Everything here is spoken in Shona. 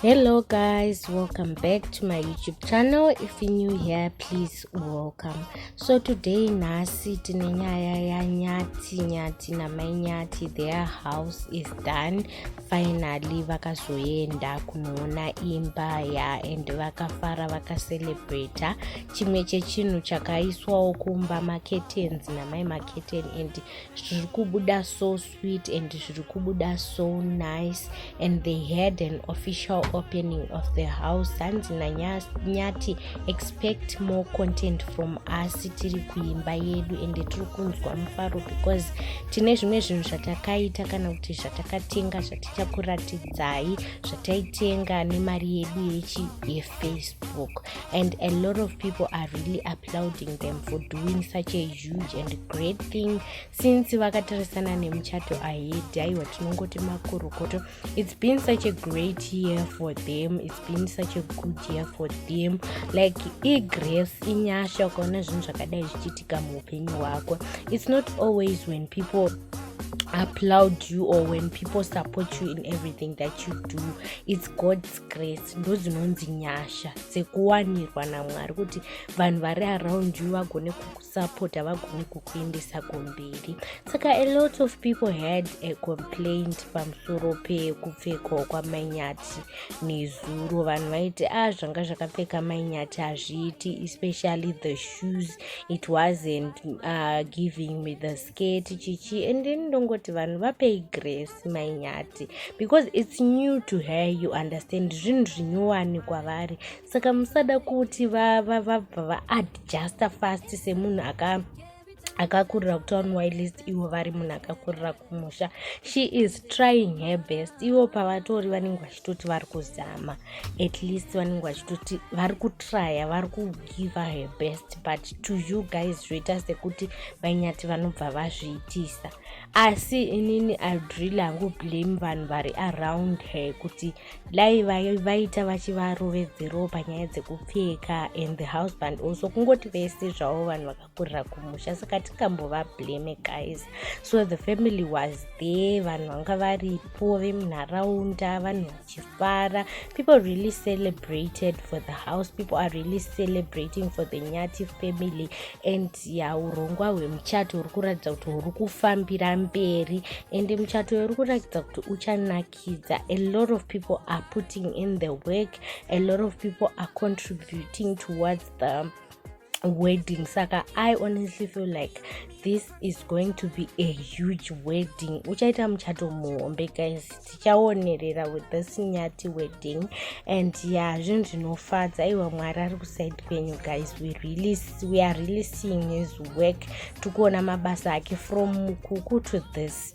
hello guys welcome back to my youtube channel if you new here please welcome so today nhasi tine nyaya yanyati nyati namai nyati their house is done finally vakazoenda kunoona imba ya and vakafara vakacelebrata chimwe chechinhu chakaiswawo kumba maketens namai maketen and zviri kubuda so sweet and zviri kubuda so nice and they had an official opening of the house hanzi nanyati expect more content from us tiri kuimba yedu and tiri kunzwa mufaro because tine zvimwe zvinhu zvatakaita kana kuti zvatakatenga zvatichakuratidzai zvataitenga nemari yedu yechi yefacebook and a lot of people are really applauding them for doing such a huge and great thing since vakatarisana nemuchato ahedi aiwa tinongoti makorokoto its been such a great year for them its been such a good year for them like igrace inyasha ukaona zvinhu zvakadai zvichiitika muupenyu hwako its not always when people applaud you or when people support you in everything that you do its god's grace ndo dzinonzi nyasha dzekuwanirwa namwari kuti vanhu vari around you vagone kuku support havagoni kukuendesa kumberi saka a lot of people had a complaint pamusoro pekupfekwa kwamainyati nezuro vanhu vaiti a ah, zvanga zvakapfeka mainyati hazviiti especially the shoes it wasn't uh, giving me the sket chichi and then ndongoti vanhu vapei grace mainyati because it's new to her you understand zvinhu zvinyowani kwavari saka musada kuti vabva va, va, vaadjusta fast semunhu aka akakurira kutown wylist ivo vari munhu akakurira kumusha she is trying her best ivo pavatori vanenge vachitoti vari kuzama at least vanenge vachitoti vari kutrya vari kugive her best but to you guys zvoita sekuti vainyati vanobva vazviitisa asi inini iud really hangu blame vanhu vari around her kuti uh, dai vaita vachivarovedzerawo panyaya dzekupfeka and the husband also kungoti vese zvavo vanhu vakakurira kumusha saka tingambova blame guys so the family was there vanhu vanga varipo vemunharaunda vanhu vachifara people really celebrated for the house people are really celebrating for the nyati family and ya urongwa hwemuchato huri kuratidza kuti huri kufambira mberi and muchato uri kuratidza kuti uchanaki kuburikidza a lot of people are putting in the work a lot of people are contributing towards the wedding saka i honestly feel like this is going to be a huge wedding uchaita muchato muhombe guys tichaonerera with this nyati wedding and ya yeah, zvinhu zvinofadza aiwa mwari ari kusaidi kwenyu guys we, really, we are really seeing his work tikuona mabasa ake from mukuku to this